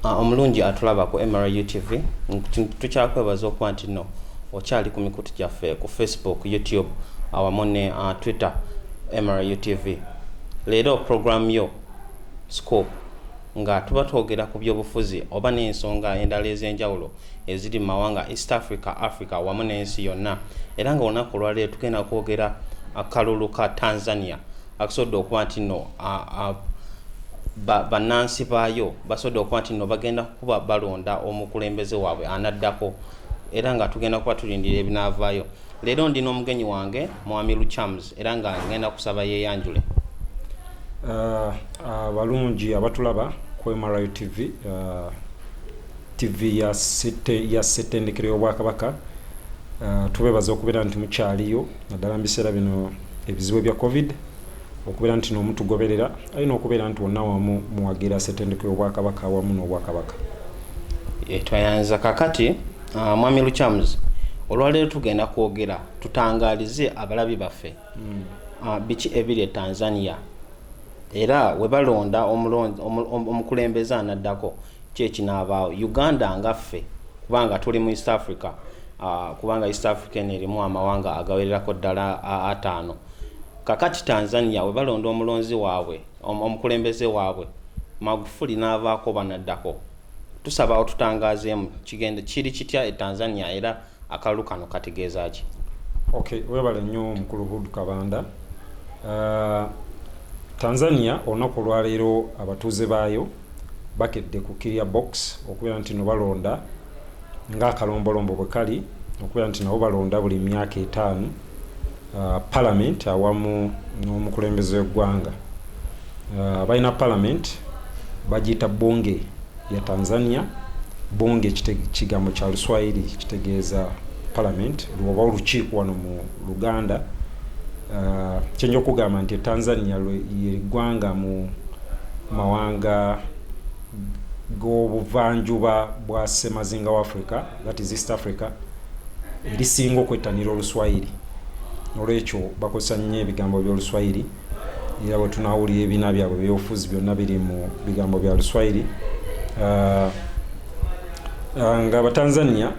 Ah, omulungi atulaba ku mru tv tukyakwebaza okuba nti no okyali ku mikutu gyaffe ku facebook youtube awamu ne uh, twitter mru tv leero program yo scope nga tuba twogera ku byobufuzi oba n'ensonga endala ez'enjawulo eziri mu mawanga east africa africa wamu n'ensi yonna era nga olunaku olwaleero tugenda kwogera akalulu ka tanzania akasobodde okuba nti no bannansi baayo basobodde okuba nti no bagenda kukuba balonda omukulembeze waabwe anaddako era nga tugenda kuba tulindira ebinaavaayo leero ndi n'omugenyi wange mwami luchams era nga ngenda kusaba yeyanjule abalungi uh, uh, abatulaba ku mri tv uh, Ttivvi ya Ssette ya Ssettendekero y'Obwakabaka, uh, tubeebaza okubeera nti mukyaliyo naddala mu biseera bino ebizibu ebya covid okubeera nti noomu tugoberera alina okubeera nti wonna wamu muwagira Ssettendekero y'Obwakabaka awamu n'Obwakabaka. Eh, twayanza kakati uh, mwami Lukyamuzi olwaleero tugenda kwogera tutangaalize abalabi baffe mm. uh, biki ebiri e Tanzania era webalonda omukulembeze anaddako Ki ekinaabaawo Uganda nga ffe kubanga tuli mu East Africa uh, kubanga East Africa eno erimu amawanga agawererako ddala uh, ataano kakati Tanzania we balonda omulonzi waabwe om, omukulembeze waabwe Magufuli n'avaako banaddako tusaba otutangaazeemu kigende kiri kitya e Tanzania era akalulu kano kategeeza ki okay webale nnyo omukulu Hood Kabanda uh, Tanzania olunaku olwaleero abatuuze baayo bakedde ku Kirya Box okubeera nti no balonda ng'akalombolombo bwe kali okubeera nti nabo balonda buli myaka etaano uh, palamenti awamu n'omukulembeze w'eggwanga uh, balina palamenti bagiyita bunge ya tanzania bunge kigambo kya luswayiri kitegeeza palamenti oba olukiiko wano mu luganda uh, kyenja okugamba nti etanzania yeggwanga mu mawanga g'obuvanjuba bwa semazinga wa africa that is east africa erisinga okwettanira oluswayiri olwekyo bakozesa nnyo ebigambo by'oluswayiri era bwe tunawulira ebiina byabwe byobufuzi byonna biri mu bigambo bya luswayiri uh, uh, nga abatanzania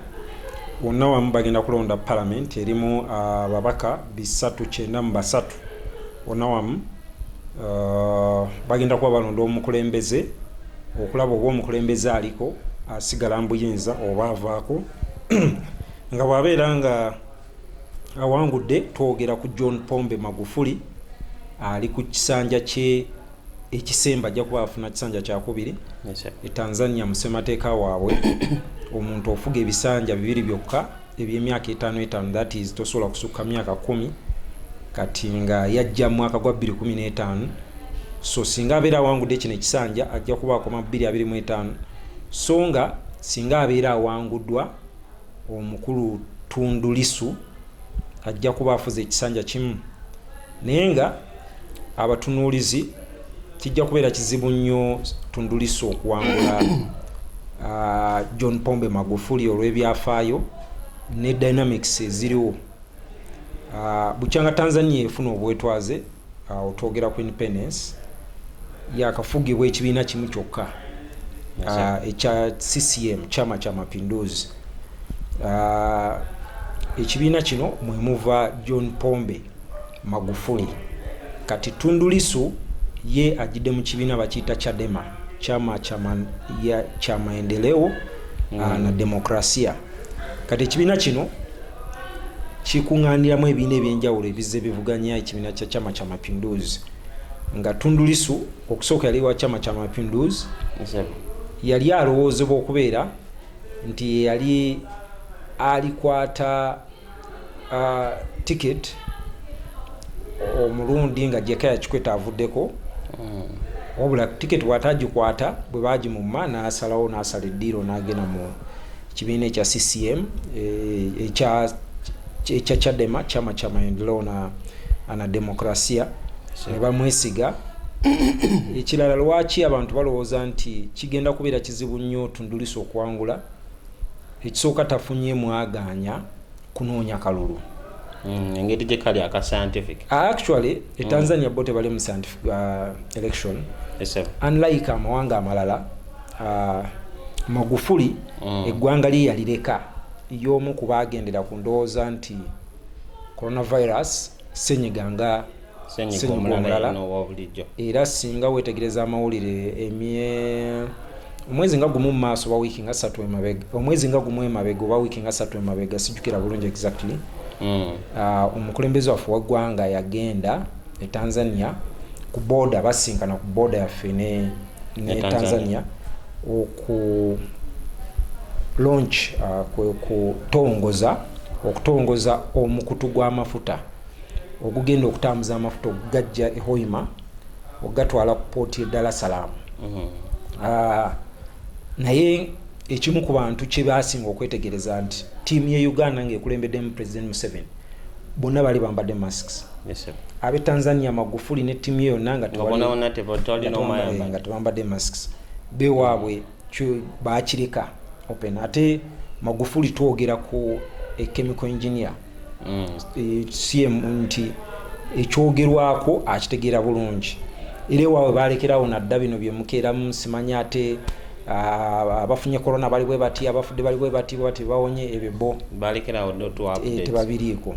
Wonna wamu bagenda kulonda palamenti erimu ababaka bisatu kyenda mu basatu wonna wamu uh, bagenda kuba balonda omukulembeze okulaba oba omukulembeze aliko asigala mbuyinza oba avaako nga bwabeera nga awangudde twogera ku john pombe magufuli ali ku kisanja kye ekisemba ajja kuba afuna kisanja kyakubiri e tanzania musemateeka waabwe omuntu ofuga ebisanja bibiri byokka ebyemyaka etaano etaano that is tosobola kusukka myaka kumi kati nga yajja mwaka gwa 215 so singa abeera awangudde kino ekisanja ajja kuba akoma 225 so nga singa abeera awanguddwa omukulu Tundu Lisu ajja kuba afuze ekisanja kimu naye nga abatunuulizi kijja kubeera kizibu nnyo Tundu Lisu okuwangula ah, John Pombe Magufuli olw'ebyafaayo ne dynamics eziriwo ah, bukyanga Tanzania efuna obwetwaze awo twogera ku independence yakafugibwa ekibiina kimu kyokka ah, ekya ccm chama kya mapinduzi ah, ekibiina kino mwemuva john pombe magufuli kati tundulisu ye ajidde mu kibiina bakiyita chadema chama chama ya chama endeleo ah, mm. na demokrasia kati ekibiina kino kikuŋŋaaniramu ebiina ebyenjawulo ebizze bivuganya ekibiina kya chama kya mapinduzi nga tundulisu okusooka yali wa chama kya mapinduzi yali alowoozebwa okubeera nti yeyali alikwata ticket omulundi nga jekaya kikweta avuddeko mm. wabula ticket bwatagikwata bwe bagimumma nasalawo nasala eddiiro nagenda mu kibiina ekya ccm eh, ekya ekya chadema chama cha maendeleo na, na demokrasia ne bamwesiga ekirala lwaki abantu balowooza nti kigenda kubeera kizibu nnyo tundulisa okwangula ekisooka tafunye mwagaanya kunoonya kalulu mm, engeri gye kali aka scientific ah, actually e mm. tanzania bo tebali mu scientific uh, election unlike amawanga amalala uh, magufuli mm. eggwanga lye yalireka y'omu ku baagendera ku ndowooza nti coronavirus senyiga nga ssenyiga omulala era singa weetegereza amawulire emye omwezi nga gumu mu maaso oba wiiki nga satu emabega omwezi nga gumu emabega oba wiiki nga satu emabega sijjukira bulungi exactly hmm. ah, omukulembeze waffe waggwanga yagenda e tanzania ku booda basinkana ku booda yaffe ne, ne tanzania oku launch uh, ah, kwe okutongoza okutongoza omukutu gw'amafuta ogugenda okutambuza amafuta okugajja e Hoima okugatwala ku pooti e Dar es Salaam mm-hmm. ah, naye ekimu ku bantu kye baasinga okwetegereza nti ttiimu ye Uganda ng'ekulembeddemu Pulezidenti Museveni bonna bali bambadde masks ab'e Tanzania Magufuli ne ttiimu ye yonna nga tebambadde masks bewaabwe baakireka open ate Magufuli twogera ku e chemical engineer mm. eh, cm nti ekyogerwako akitegeera bulungi era ewaawe balekerawo nadda bino byemukeeramu simanyi ate Ah, abafunye corona bali bwe bati abafudde bali bwe bati bati bawonye ebyo bo balekerawo eh, tebabiriiko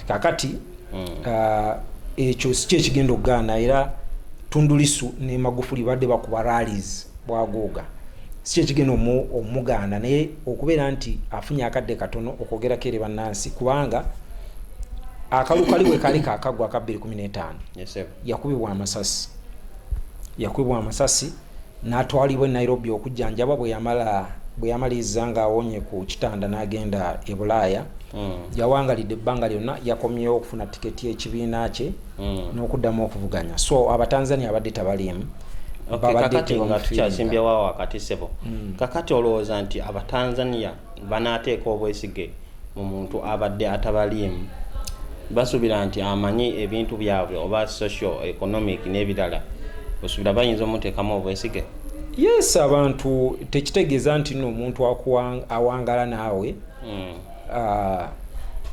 kakati hmm. ah, ekyo si kyekigenda okugaana era tundulisu ne magufuli badde bakuba rallies bwagooga si kyekigenda omugaana naye okubeera nti afunye akadde katono okwogerako eri bannansi kubanga akalu kali we kali kakagwa aka 215 yakubibwa amasasi yakubibwa amasasi n'atwalibwa e nairobi okujjanjabwa bwe yamala bwe yamaliriza ng'awonye ku kitanda n'agenda e bulaaya hmm. yawangalidde ebbanga lyonna yakomyewo okufuna tiketi y'ekibiina kye mm. n'okuddamu okuvuganya so abatanzania abadde tabaliimu kakati nga tukyasimbyewo awo akati sebo mm. kakati olowooza nti abatanzania banaateeka obwesige mu muntu abadde atabaliimu basuubira nti amanyi ebintu byabwe oba social economic n'ebirala osuubira bayinza omuteekamu obwesige yes abantu tekitegeeza nti noomuntu awangala naawe hmm. ah,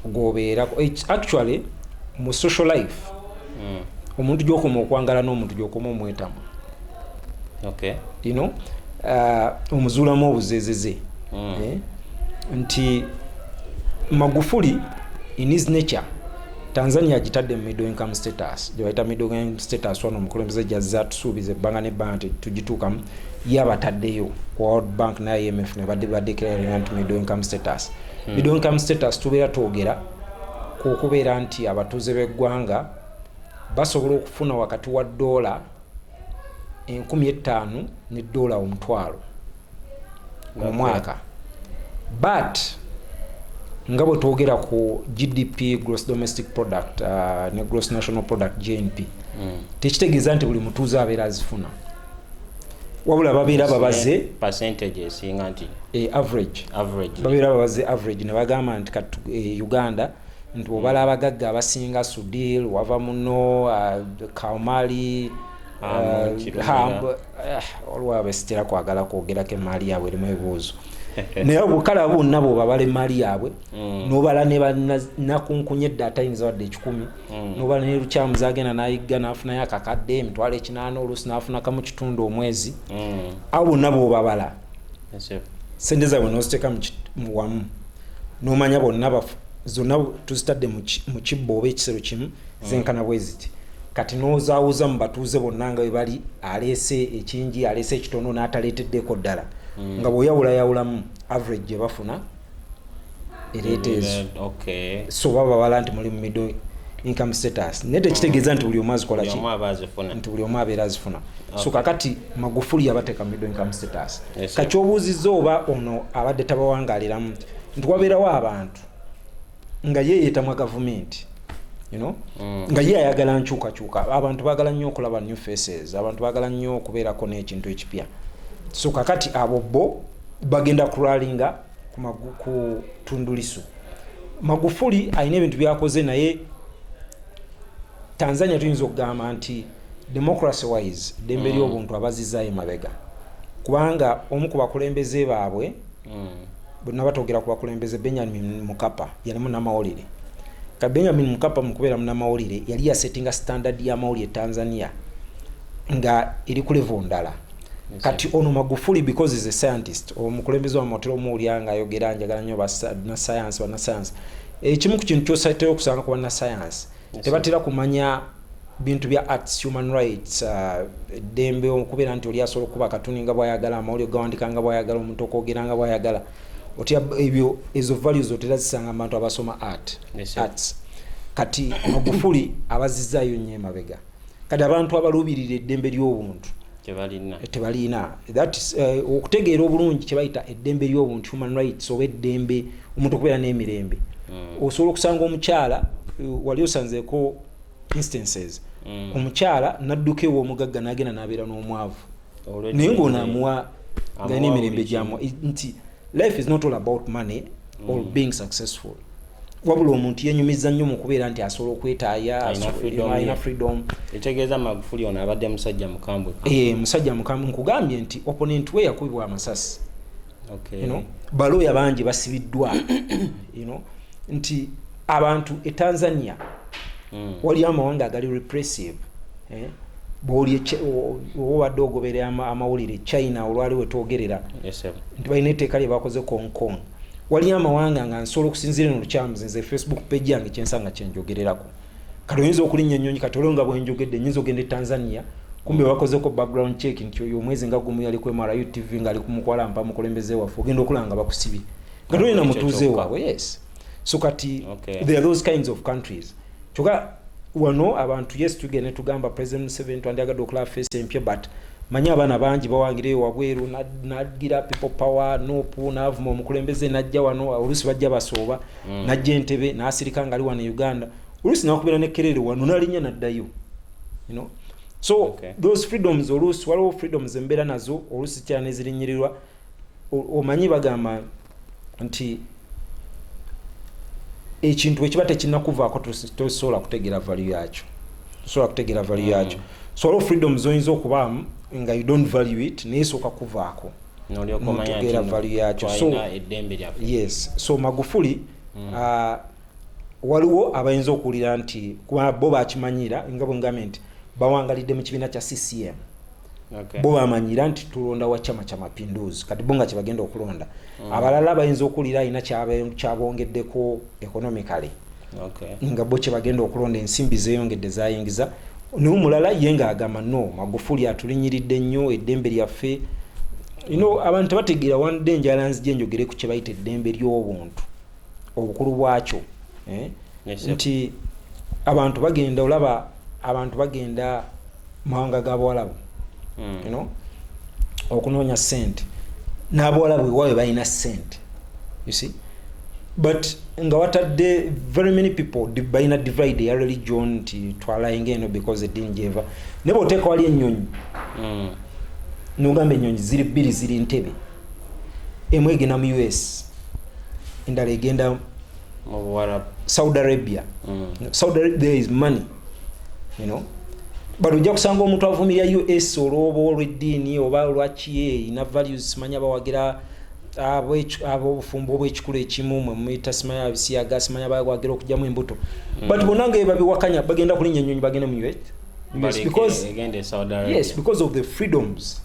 gwobeerako actually mu social life hmm. omuntu gyokoma okwangala n'omuntu gyokoma omwetamu ino ah, omuzuulamu obuzezeze hmm. eh? nti magufuli in his nature tanzania agitadde mu middle income status gyebayita middle income status wano omukulembeze gyazza tusuubiza ebbanga nebbanga tugituukamu yabataddeyo ku world bank ne imf ne badde badeclaringa nti middle income status hmm. middle income status tubeera twogera ku okubeera nti abatuuze b'eggwanga basobola okufuna wakati wa doola enkumi ettaano ne doola omutwalo omwaka but nga bwe twogera ku gdp gross domestic product uh, ne gross national product gnp hmm. tekitegeeza nti buli mutuuze abeera azifuna wabula babeera babaze percentage esinga nti e average average babeera babaze average ne bagamba nti kat e Uganda nti obala hmm. abagagga abasinga Sudil wava muno uh, ah, Kaumali ah, eh, olwa besitira kwagala kwogera ke mali yabwe limu ebuzo naye obukala bonna bwobabala emmaali yaabwe hmm. nobala nenakunkunya edda atayinza wadde ekikumi mm. noba nelukyamu zagenda nayigga nafunayo akakadde emitwalo ekinaana oluusi nafunaka mu kitundu omwezi mm. awo bonna bobabala sente zabwe noziteeka muwamu nomanya bonna bafu zonna tuzitadde mu kibbo oba ekisero kimu mm. zenkana bweziti kati nozawuza mu batuuze bonna nga webali aleese ekingi aleese ekitono nataleeteddeko ddala nga bwoyawulayawulamu average gyebafuna ereeta ezo so baba babala nti muli mu middle income status naye tekitegeeza nti buli omu azikola ki nti buli omu abeera azifuna so kakati magufuli yabateeka mu middle income status kakyobuuzizza oba ono abadde tabawangaliramu nti wabeerawo abantu nga ye yeetamwa gavumenti you know mm. nga ye ayagala nkyukakyuka abantu bagala nnyo okulaba new faces abantu bagala nnyo okubeerako n'ekintu ekipya so kakati abo bo bagenda kuralinga ku tundulisu magufuli alina ebintu byakoze naye tanzania tuyinza okugamba nti democracy wise dembe mm. lyobuntu abazizayo mabega kubanga omu ku bakulembeze baabwe mm. bwenaba togera ku bakulembeze benjamin mukapa yalimu namawulire ka benjamin mukapa mukubeera munamawulire yali yasettinga standard yamawulire tanzania nga eri ku levo ndala kati ono magufuli because is a scientist omukulembeze wamotera omuwulira nga ayogera njagala nyo banasayansi banasayansi ekimu eh, ku kintu kyosateyo okusanga ku banasayansi tebatera kumanya bintu bya arts human rights uh, eddembe uh, okubeera nti oli asobola okuba katuni nga bwayagala amawuli ogawandika nga bwayagala omuntu okwogera nga bwayagala otya ebyo ezo values otera zisanga mu bantu abasoma art yes, arts kati magufuli abazizayo nyo emabega kati abantu abaluubirira eddembe ly'obuntu tebalina eh, okutegeera obulungi kyebayita eddembe ly'obuntu human rights oba eddembe omuntu okubeera n'emirembe hmm. osobola okusanga omukyala eh, wali osanzeko instances mm. omukyala nadduka ew'omugagga n'agenda n'abeera n'omwavu naye ng'ono amuwa nga n'emirembe gyamu nti life is not all about money mm. or being successful wabula omuntu yenyumiza nnyo mu kubeera nti asobola okwetaaya alina freedom ekitegeeza magufuli ono abadde musajja mukambwe eh, musajja mukambwe nkugambye nti opponent we yakubibwa amasasi okay. you know, balooya bangi basibiddwa you know, nti abantu e tanzania mm. waliyo amawanga agali repressive eh? bwobadde ogoberera amawulire china olwali wetwogerera nti balina etteeka lye bakoze kongkong waliyo amawanga nga nsobola okusinziira no lukyamuzi nze facebook page yange kyensanga kyenjogererako kati oyinza okulinnya ennyonyi kati olwo nga bwenjogedde nyinza ogenda e tanzania kumbe bakozeko background check nti oyo omwezi nga gumu yali ku mru tv ngaali kumukwala mpa mukulembeze waffe ogenda okulaba nga bakusibye nga tolina mutuuze waabwe yes so kati okay. there are those kinds of countries kyoka wano abantu yes tugenda netugamba president museven twandyagadde okulaba face empya but manyi abaana bangi bawangira eyo wabweru nagira people power nopu navuma omukulembeze najja wano oluusi bajja basooba mm. najja entebe nasirika ngali wano e uganda oluusi nakubera nekerere wano nalinya naddayo you know? so okay. those freedoms oluusi waliwo freedoms embeera nazo oluusi kyanezirinyirirwa omanyi bagamba nti ekintu ekiba tekinakuvaako tosobola kutegeera valu yakyo tosobola kutegeera valu mm. yakyo so waliwo freedoms oyinza okubaamu nga you don't value it naye sooka kuvaako nomutegeera valu yakyo yes so magufuli mm. uh, waliwo abayinza okuwulira nti bo bakimanyira nga bwengambye nti bawangalidde mu kibiina kya ccm okay. bo bamanyira nti tulonda wa chama kya mapinduzi kati bo nga kyebagenda okulonda mm. abalala bayinza okuwulira alina kyabongeddeko economically okay. nga bo kyebagenda okulonda ensimbi zeyongedde zayingiza naye omulala ye nga agamba no magufuli atulinyiridde nnyo eddembe lyaffe you know, abantu tebategeera wande enjala nzija enjogere ku kyebayita eddembe ly'obuntu obukulu bwakyo eh? yes, nti abantu bagenda olaba abantu bagenda mawanga ga bawalabu hmm. you know okunoonya sente n'abawalabu ewaabwe balina sente you see but nga watadde very many people balina divide eya religion nti twalayinga eno because edini gyeva naye bwoteeka wali ennyonyi hmm. nogamba ennyonyi ziri bbiri ziri ntebe emu egenda mu us endala egenda saudi arabia mm. saudi arabia there is money you know but ojja kusanga omuntu avumira us olwoba olweddiini oba olwakiyeeyi na values simanyi abawagira abobufumbo obwekikulu ekimu mwemuyita simanyi abisiyaga simanyi abawagira okugyamu embuto mm. but bona nga ebabiwakanya bagenda kulinya enyonyi bagende mu us yes, because, yes, because of the freedoms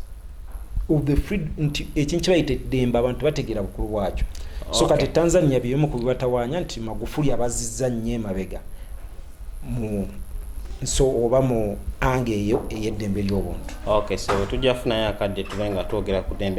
of the free nti ekintu kibayita eddembe abantu bategeera bukulu bwakyo so kati tanzania byebimu ku bibatawanya nti magufuli abazizza nnyo emabega mu nso oba mu anga eyo ey'eddembe ly'obuntu okay so tujja funayo akadde tube nga twogera ku ddembe